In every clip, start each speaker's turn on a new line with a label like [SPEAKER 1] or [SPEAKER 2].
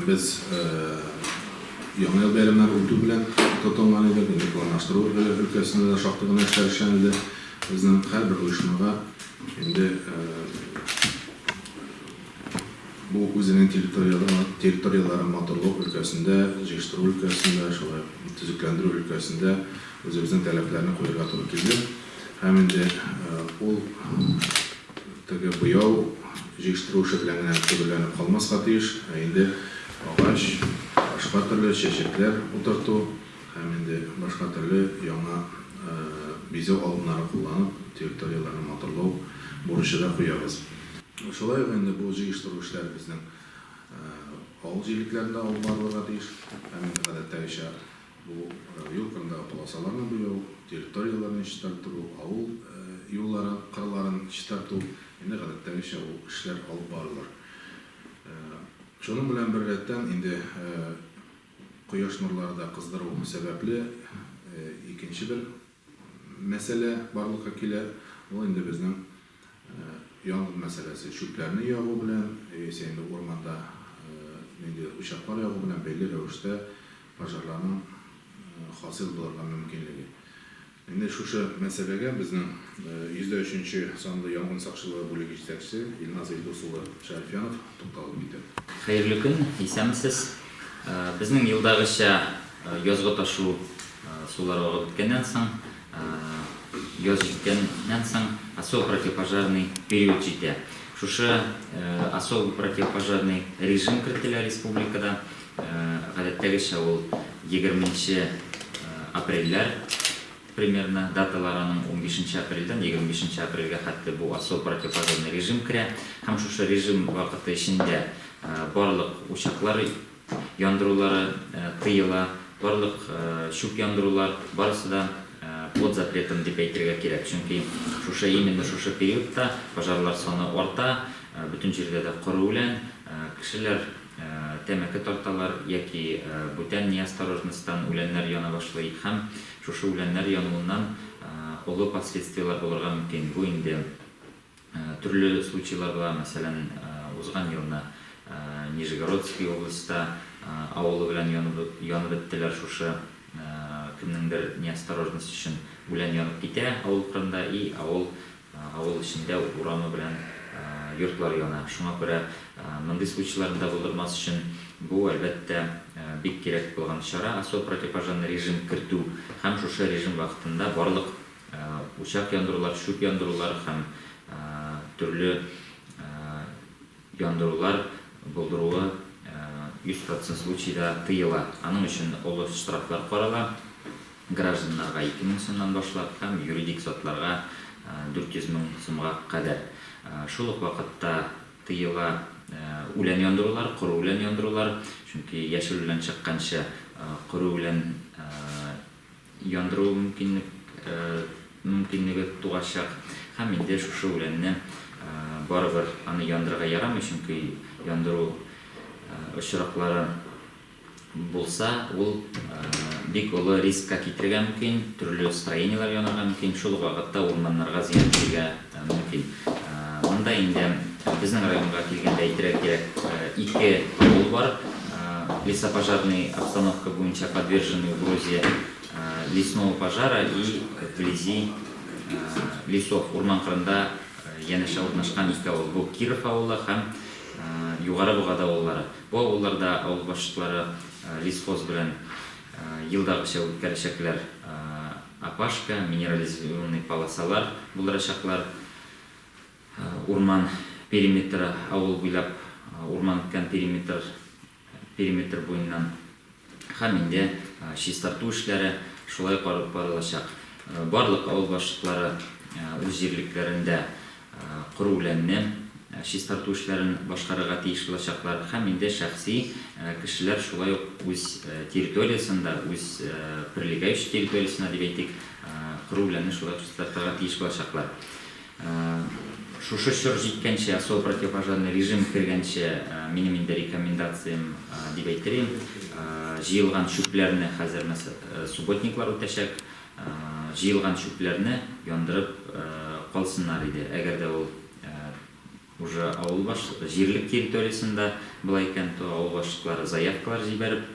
[SPEAKER 1] Без Яңа ел бәйрәмнәре үтү белән тотынган идек, инде планлаштыру өлкәсендә дә шактый гына эшләр эшләнде. Безнең һәрбер оешмага инде бу үзенең территорияләрен матурлау өлкәсендә, җыештыру өлкәсендә, шулай ук төзекләндерү өлкәсендә үзебезнең таләпләрне куярга туры килде. Һәм инде ул Теге буяу җыештыру эше белән генә төгәлләнеп калмаска тиеш, ә инде агач, башка төрле чәчәкләр утырту һәм инде башка төрле яңа бизәү алымнары кулланып, территорияләрне матурлау бурычы да куябыз. Шулай ук инде бу җыештыру эшләре безнең авыл җирлекләрендә алып барылырга тиеш һәм инде гадәттәгечә, Бу юл кырындагы полосаларны буяу, территорияләрне чистарттыру, авыл юлларын, кырларын чистарту, инде гадәттәгечә ул эшләр алып барылыр. Шуның белән бер рәттән, инде кояш нурлары да кыздыру сәбәпле, икенче бер мәсьәлә барлыкка килә, ул инде безнең янгын мәсьәләсе, чүпләрне ягу белән яисә инде урманда ниндидер учаклар ягу белән бәйле рәвештә пожарларның хасил булырга мөмкинлеге. Инде шушы мәсьәләгә безнең 103 нче санлы янгын сакчылыгы бүлеге җитәкчесе Илназ Илдус улы Шәрифьянов тукталып үтә. Хәерле көн,
[SPEAKER 2] исәнмесез. Безнең елдагыча язгы ташу сулары агып беткәннән соң, яз җиткәннән соң особо противопожарный период җитә. Шушы особо противопожарный режим кертелә республикада. Гадәттәгечә ул егерменче апрельләр. Примерно даталар аның унбишенче апрельдән егерме бишенче апрельгә хәтле бу особо противопожарный режим керә һәм шушы режим вакыты эчендә барлык учаклар яндырулары тыела, барлык чүп яндырулар, барысы да под запретом дип әйтергә кирәк, чөнки шушы именно шушы периодта пожарлар саны арта, бөтен җирдә дә коры үлән, кешеләр тәмәке тарталар яки бүтән неосторожностьтан үләннәр яна башлый һәм Шушы үләннәр януыннан олы последствиеләр булырга мөмкин. Бу инде төрле случайлар була. Мәсәлән, узган елны Нижегородский областьта авылы белән янып беттеләр шушы кемнеңдер неосторожность өчен үлән янып китә авыл кырында и авыл Авыл эчендә урамы белән йортлар яна. Шуңа күрә мондый случайларны да булдырмас өчен, бу, әлбәттә, бик кирәк булган чара, особо противопожарный режим кертү һәм шушы режим вакытында барлык учак яндырулар, чүп яндырулар һәм төрле Яндырулар булдыруы 100 процент случайда тыела. Аның өчен олы штрафлар карала, гражданнарга 2 мең сумнан башлап һәм юридик затларга 400 мең сумга кадәр. Шул ук вакытта тыела үлән яндырулар, коры үлән яндырулар, чөнки яшел үлән чыкканчы коры үлән яндыру мөмкинлеге туачак, һәм инде шушы үләнне барыбер аны яндырырга ярамый, чөнки яндыру очраклары булса, ул бик олы рискка китерергә мөмкин, төрле строениеләр янарга мөмкин, шул ук вакытта урманнарга зыян китерергә Мөмкин. Монда инде безнең районга килгәндә әйтергә кирәк, ике авыл бар. Лесопожарный обстановка буенча подверженный угрозе лесного пожара и вблизи лесов, урман кырында янәшә урнашкан ике авыл. Бу Киров авылы һәм Югары Богады авыллары. Бу авылларда авыл башлыклары лесхоз белән елдагыча үткәрәчәкләр. Опашка, минерализированный полосалар булдырачаклар. Урман периметры, авыл буйлап урман үткән периметр, периметр буеннан һәм инде чистарту эшләре шулай ук алып барылачак. Барлык авыл башлыклары үз җирлекләрендә Коры-үләнне чистарту эшләрен башкарырга тиеш булачаклар һәм инде шәхси кешеләр шулай ук үз территориясендә, үз прилегающий территориясендә дип әйтик, коры-үләнне шулай ук чистартырга тиеш булачаклар. Шушы чор җиткәнче, особо противопожарный режим кергәнче, минем инде рекомендациям дип әйтер идем, җыелган чүпләрне хәзер субботниклар үтәчәк. Җыелган чүпләрне яндырып калсыннар иде. Әгәр дә ул уже авыл баш җирлек территориясендә була икән, то авыл башлыклары заявкалар җибәреп,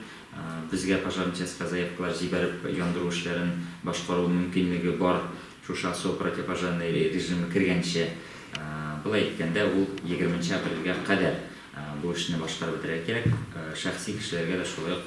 [SPEAKER 2] безгә пожарный частька заявкалар җибәреп яндыру эшләрен башкару мөмкинлеге бар, шушы особо противопожарный режимы кергәнче. Болай иткәндә ул егерменче апрельгә кадәр бу эшне башкарып бетерергә кирәк. Шәхси кешеләргә дә шулай ук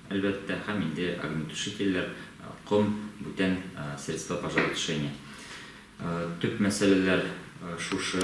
[SPEAKER 2] әлбәттә, һәм инде огнетушительләр, ком, бүтән средства пожаротушения. Төп мәсьәләләр шушы.